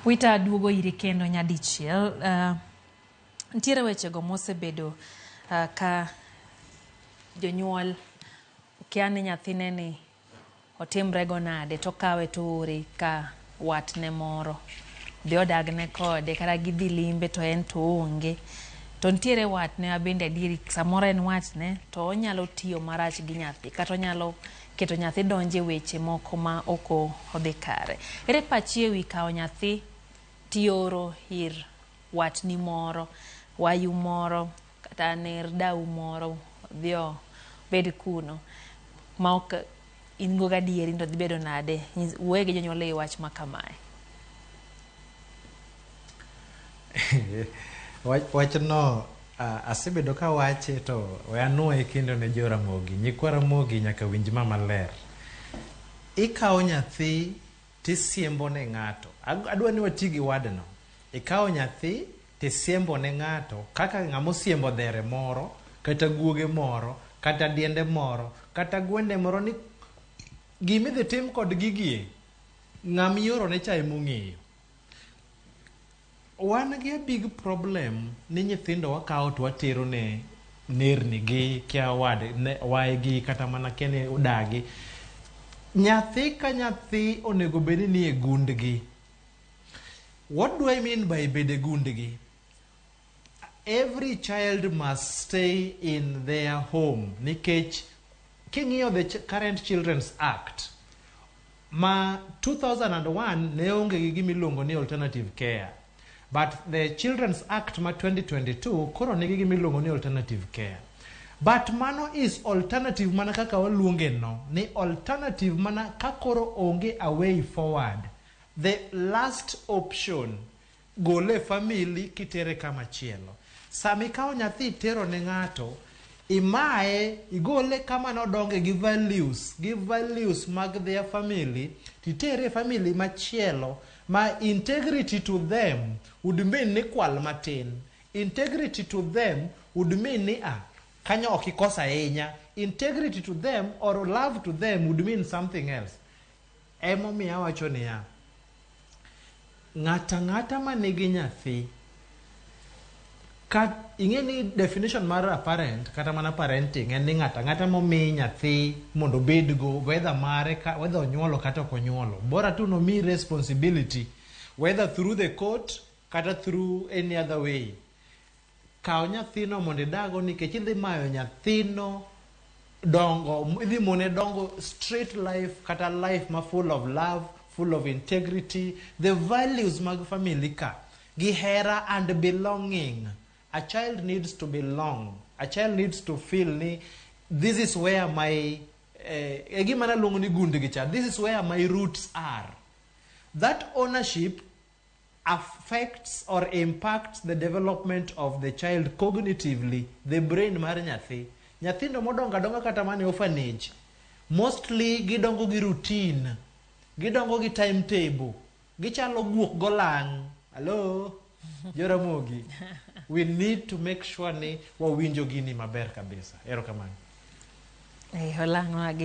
Wita aduogo iri kendo nyadichiel. Uh, ntiere wechego mosebedo uh, ka jonyuol okia ni nyathine ni otimrego nade to kawe to ore ka watne moro dhi odagne kode kata gidhi limbe to en to onge to nitiere watne ma bende adieri samoro en watne to onyalo tiyo marach gi nyathi kata onyalo keto nyathi donjo e weche moko ma ok o- odhi kare ere pachi e wi kawo nyathi tioro ir watni moro wayu moro Kata ner dau moro dhi obed kuno ma ok in go gadieri to dhi bedo nade? Nyis- Wuoye gi jonyuol e wi wach ma kamae. Wach- wachno a- asebedo ka wache to we anwoye kendo ne jo ramogi nyikwa ramogi nyaka winj ma maler ikawo nyathi Tisiembo ne ng'ato. Adwa ni wati gi wadno. Ikawo nyathi tisiembo ne ng'ato kaka ng'ama osiembo dhere moro kata guoge moro kata diende moro kata gwende moro ni gima idhi tim kod gigi e, ng'ama iorone cha ema ong'eyo. Wan gi a big problem ni nyithindo wakawo to watero ne nerni gi kia wad ne waye gi kata mana kia ni udagi. Nyathi ka nyathi onego bed ni nie gundgi. What do I mean by bede gundgi? Every child must stay in their home nikech king'iyo the Ch- current children's act Ma 2001 ne onge gi gima iluongo ni alternative care but the Children's Act ma 2022 koro nigi gima iluongo ni alternative care. But mano is alternative mana kaka waluonge no ni alternative mana ka koro onge a way forward. The last option Gole e family kitere kama chielo. Sama ikawo nyathi itero ne ng'ato, imaye, igole kama nodonge gi values, gi values mag their family, titere e family machielo ma integrity to them would mean ni kwal matin. Integrity to them would mean ni a, kanyo ok ikos ahinya. Integrity to them or love to them would mean something else. Emomiyo awacho niya, ng'ata ng'ata ma nigi nyathi, ka ing'e ni definition mar a parent kata mana parenting en ni ng'ata ng'ata momi nyathi mondo obedgo whether mare ka whether onyuolo kata ok onyuolo bora tu nomi responsibility whether through the court kata through any other way Kaw nyathino mondo idago nikech idhi mayo nyathino dongo, idhi mone dongo straight life kata life ma full of love, full of integrity, the values mag family ka gi hera and belonging. A child needs to belong. A child needs to feel ni this is where my eh, e gima naluongo ni gundgi cha this is where my roots are that ownership affects or impacts the development of the child cognitively, the brain mar nyathi. Nyathindo modongo adonga kata mane orphanage, mostly gidongo gi routine, gidongo gi timetable, gichalo guok golang'. Hello? Joramogi. We need to make sure ni wawinjo gini maber kabisa. Erokamano. Hey, eh,